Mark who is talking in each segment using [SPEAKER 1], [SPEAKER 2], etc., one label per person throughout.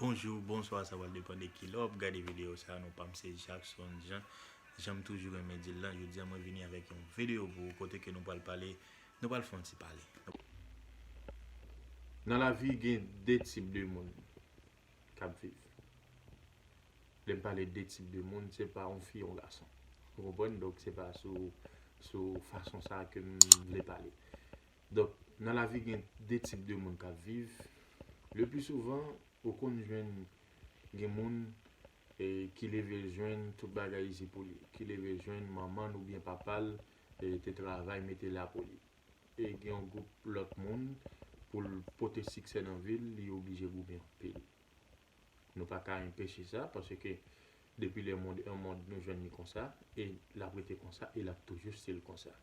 [SPEAKER 1] Bonjou, bonswa sa pral depan de kilè wap gade video sa non pam se Jackson Jean janm toujou renmen dil lan jodia mwen vini avèk yon video pou ou kote ke nou pral pale nou pral fon ti pale.
[SPEAKER 2] Nan lavi gen de tip de moun kap viv lèm pale de tip de moun se pa yon fi yon gason ou konprann donk se pa sou sou fason sa kem vle pale Donk, nan lavi gen 2 tip de moun k ap viv, le pli souvan ou konn jwenn gen moun ki leve l jwenn tout bagay izi pou li, ki leve l jwenn manman l oubyen papa l te travay mete la pou li. E gen yon gwoup lòt moun pou l pote siksè nan vi l, li oblije goumen anpil. Nou pa ka enpeche sa paske depi le mond e mond nou jwenn li konsa e l ap rete konsa e l ap toujou stil konsa.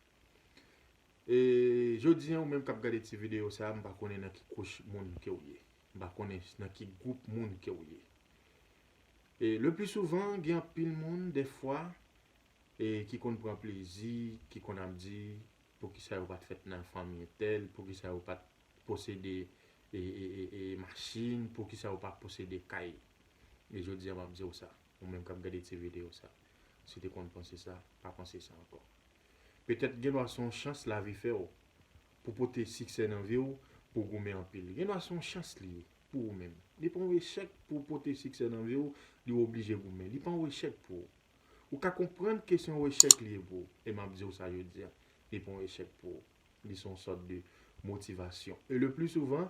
[SPEAKER 2] E jodi an ou menm kap gade ti video sa mpa konnen nan ki kouch moun kew ye. Mpa konnen nan ki gwoup moun kew ye. E le pli souvan gen anpil moun defwa e ki konn pran plezi, ki konn ap di poukisa yo pat fèt nan fanmi entèl, poukisa yo pat posede e e e e machin, poukisa yo pa posede kay. E jodi an map diw sa. Ou menm kap gade ti video sa. Si w te konn panse sa, pa panse sa ankò. Petèt gendwa se yon chans lavi fè w pou pote siksè nan vi w, pou w goumen anpil. Gendwa se yon chans li ye pou ou menm. Li pa yon echèk pou w pote siksè nan vi w, li w oblije goumen. Li pa yon echèk pou ou. Ou ka konprann ke se yon echèk li ye pou ou. E map di w sa jodi a. Li pa yon echèk pou ou. Li se yon sòt de motivasyon. E le pli souvan,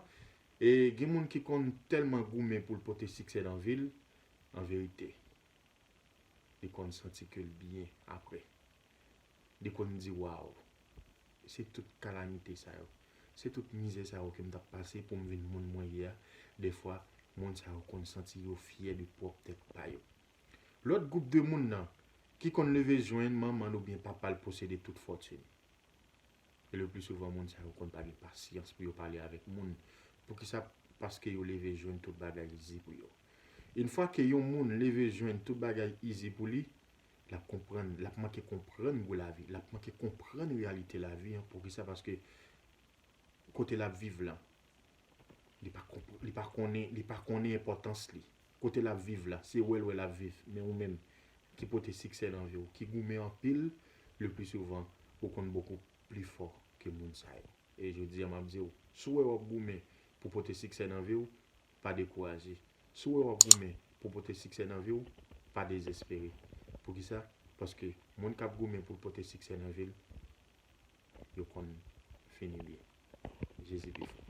[SPEAKER 2] gen moun ki konn tèlman goumen pou l pote siksè nan vi l, An verite, li konn santi ke l byen apre. Li konn di, Waw! Se tout kalamite sa yo, se tout mizè sa yo ke m t ap pase pou m vin moun mwen ye a. Dèfwa, moun sa yo konn santi yo fyè de pwòp tèt pa yo. Lòt gwoup de moun nan, ki konn leve jwenn manman l oubyen papa l posede tout fòtin. E le pli souvan moun sa yo konn pa gen pasyans pou yo pale avèk moun. Poukisa? Paske yo leve jwenn tout bagay izi pou yo. Yn fwa ke yon moun leve jwenn tout bagay izi pou li, l ap konprann, l ap manke konprann gou lavi, l ap manke konprann reyalite lavi an. Poukisa? Paske kote l ap viv lan, li pa konprann, li pa konnen, li pa konnen enpòtans li. Kote lap viv la, se wè l wè lap viv, men ou menm, ki pote siksè nan vi w, ki goumen anpil, le pli souvan, ou konn bokou pli fò ke moun sa yo. E jodi a map di w, si w wè wap goumen pou pote siksè nan vi w, pa dekouraje. Si w wè wap goumen pou pote siksè nan vi w, pa dezespere. Poukisa? Paske moun kap goumen pou l pote siksè nan vi l, yo konn fini byen. Jezi pi fò.